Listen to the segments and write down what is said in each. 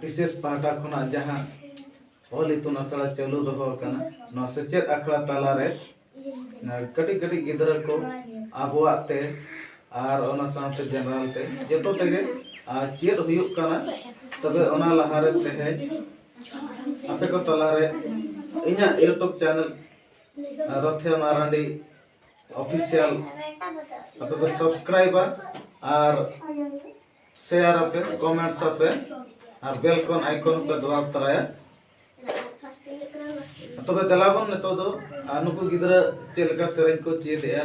ᱵᱤᱥᱮᱥ ᱯᱟᱦᱴᱟ ᱠᱷᱚᱱᱟᱜ ᱡᱟᱦᱟᱸ ᱚᱞ ᱤᱛᱩᱱ ᱟᱥᱲᱟ ᱪᱟᱹᱞᱩ ᱫᱚᱦᱚ ᱟᱠᱟᱱᱟ ᱱᱚᱣᱟ ᱥᱮᱪᱮᱫ ᱟᱠᱷᱲᱟ ᱛᱟᱞᱟᱨᱮ ᱠᱟᱹᱴᱤᱡ ᱠᱟᱹᱴᱤᱡ ᱜᱤᱫᱽᱨᱟᱹ ᱠᱚ ᱟᱵᱚᱣᱟᱜ ᱛᱮ ᱟᱨ ᱚᱱᱟ ᱥᱟᱶᱛᱮ ᱡᱮᱱᱟᱨᱮᱞ ᱛᱮ ᱡᱚᱛᱚ ᱛᱮᱜᱮ ᱟᱨ ᱪᱮᱫ ᱦᱩᱭᱩᱜ ᱠᱟᱱᱟ ᱛᱚᱵᱮ ᱚᱱᱟ ᱞᱟᱦᱟᱨᱮ ᱛᱮᱦᱮᱧ ᱟᱯᱮ ᱠᱚ ᱛᱟᱞᱟᱨᱮ ᱤᱧᱟᱹᱜ ᱤᱭᱩᱴᱩᱵᱽ ᱪᱮᱱᱮᱞ ᱨᱚᱛᱷᱮ ᱢᱟᱨᱟᱱᱰᱤ ᱚᱯᱷᱤᱥᱤᱭᱟᱞ ᱟᱯᱮ ᱯᱮ ᱥᱟᱵᱥᱠᱨᱟᱭᱤᱵᱟ ᱟᱨ ᱥᱮᱭᱟᱨ ᱟᱯᱮ ᱠᱚᱢᱮᱱᱴᱥ ᱟᱯᱮ ᱟᱨ ᱵᱮᱞ ᱠᱚᱱ ᱟᱭᱠᱚᱱ ᱯᱮ ᱫᱚᱵᱟᱣ ᱛᱟᱨᱟᱭᱟ ᱛᱚᱵᱮ ᱫᱮᱞᱟ ᱵᱚᱱ ᱱᱤᱛᱚᱜ ᱫᱚ ᱱᱩᱠᱩ ᱜᱤᱫᱽᱨᱟᱹ ᱪᱮᱫ ᱞᱮᱠᱟ ᱥᱮᱨᱮᱧ ᱠᱚ ᱪᱮᱫᱮᱜᱼᱟ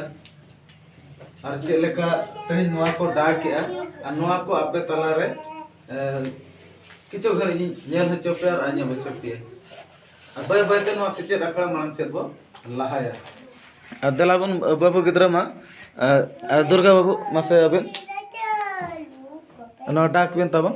ᱟᱨ ᱪᱮᱫ ᱞᱮᱠᱟ ᱛᱮᱦᱮᱧ ᱱᱚᱣᱟ ᱠᱚ ᱰᱟᱠᱮᱜᱼᱟ ᱟᱨ ᱱᱚᱣᱟ ᱠᱚ ᱟᱯᱮ ᱛᱟᱞᱟᱨᱮ ᱠᱤᱪᱷᱩ ᱜᱷᱟᱹᱲᱤᱡ ᱤᱧ ᱧᱮᱞ ᱦᱚᱪᱚ ᱯᱮᱭᱟ ᱟᱨ ᱟᱸᱡᱚᱢ ᱦᱚᱪᱚ ᱯᱮᱭᱟ ᱟᱨ ᱵᱟᱹᱭ ᱵᱟᱹᱭᱛᱮ ᱱᱚᱣᱟ ᱥᱮᱪᱮᱫ ᱟᱠᱷᱲᱟ ᱢᱟᱲᱟᱝ ᱥᱮᱫ ᱵᱚ ᱞᱟᱦᱟᱭᱟ ᱟᱨ ᱫᱮᱞᱟ ᱵᱚᱱ ᱵᱟᱹᱵᱩ ᱜᱤᱫᱽᱨᱟᱹ ᱢᱟ ᱟᱨ ᱫᱩᱨᱜᱟ ᱵᱟᱹᱵᱩ ᱢᱟᱥᱮ ᱟᱹᱵᱤᱱ ᱱᱚᱣᱟ ᱰᱟᱠ ᱵᱤᱱ ᱛᱟᱵᱚᱱ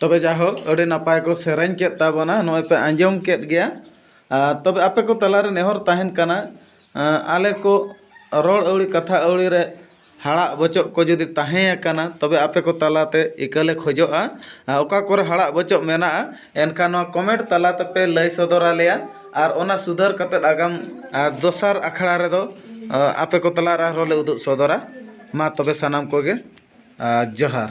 ᱛᱚᱵᱮ ᱡᱟᱭᱦᱳᱠ ᱟᱹᱰᱤ ᱱᱟᱯᱟᱭ ᱠᱚ ᱥᱮᱨᱮᱧ ᱠᱮᱫ ᱛᱟᱵᱚᱱᱟ ᱱᱚᱜᱼᱚᱭ ᱯᱮ ᱟᱸᱡᱚᱢ ᱠᱮᱫ ᱜᱮᱭᱟ ᱟᱨ ᱛᱚᱵᱮ ᱟᱯᱮ ᱠᱚ ᱛᱟᱞᱟᱨᱮ ᱱᱮᱦᱚᱨ ᱛᱟᱦᱮᱱ ᱠᱟᱱᱟ ᱟᱞᱮ ᱠᱚ ᱨᱚᱲ ᱟᱹᱣᱲᱤ ᱠᱟᱛᱷᱟ ᱟᱹᱣᱲᱤ ᱨᱮ ᱦᱟᱲᱟᱜ ᱵᱚᱪᱚᱜ ᱠᱚ ᱡᱩᱫᱤ ᱛᱟᱦᱮᱸᱭᱟᱠᱟᱱᱟ ᱛᱚᱵᱮ ᱟᱯᱮ ᱠᱚ ᱛᱟᱞᱟᱛᱮ ᱤᱠᱟᱹᱞᱮ ᱠᱷᱚᱡᱚᱜᱼᱟ ᱚᱠᱟ ᱠᱚᱨᱮ ᱦᱟᱲᱟᱜ ᱵᱚᱪᱚᱜ ᱢᱮᱱᱟᱜᱼᱟ ᱮᱱᱠᱷᱟᱱ ᱱᱚᱣᱟ ᱠᱚᱢᱮᱱᱴ ᱛᱟᱞᱟ ᱛᱮᱯᱮ ᱞᱟᱹᱭ ᱥᱚᱫᱚᱨ ᱟᱞᱮᱭᱟ ᱟᱨ ᱚᱱᱟ ᱥᱩᱫᱷᱟᱹᱨ ᱠᱟᱛᱮᱫ ᱟᱜᱟᱢ ᱫᱚᱥᱟᱨ ᱟᱠᱷᱲᱟ ᱨᱮᱫᱚ ᱟᱯᱮ ᱠᱚ ᱛᱟᱞᱟᱨᱮ ᱟᱨᱦᱚᱸ ᱞᱮ ᱩᱫᱩᱜ ᱥᱚᱫᱚᱨᱟ ᱢᱟ ᱛᱚᱵᱮ ᱥᱟᱱᱟᱢ ᱠᱚᱜᱮ ᱡᱚᱦᱟᱨ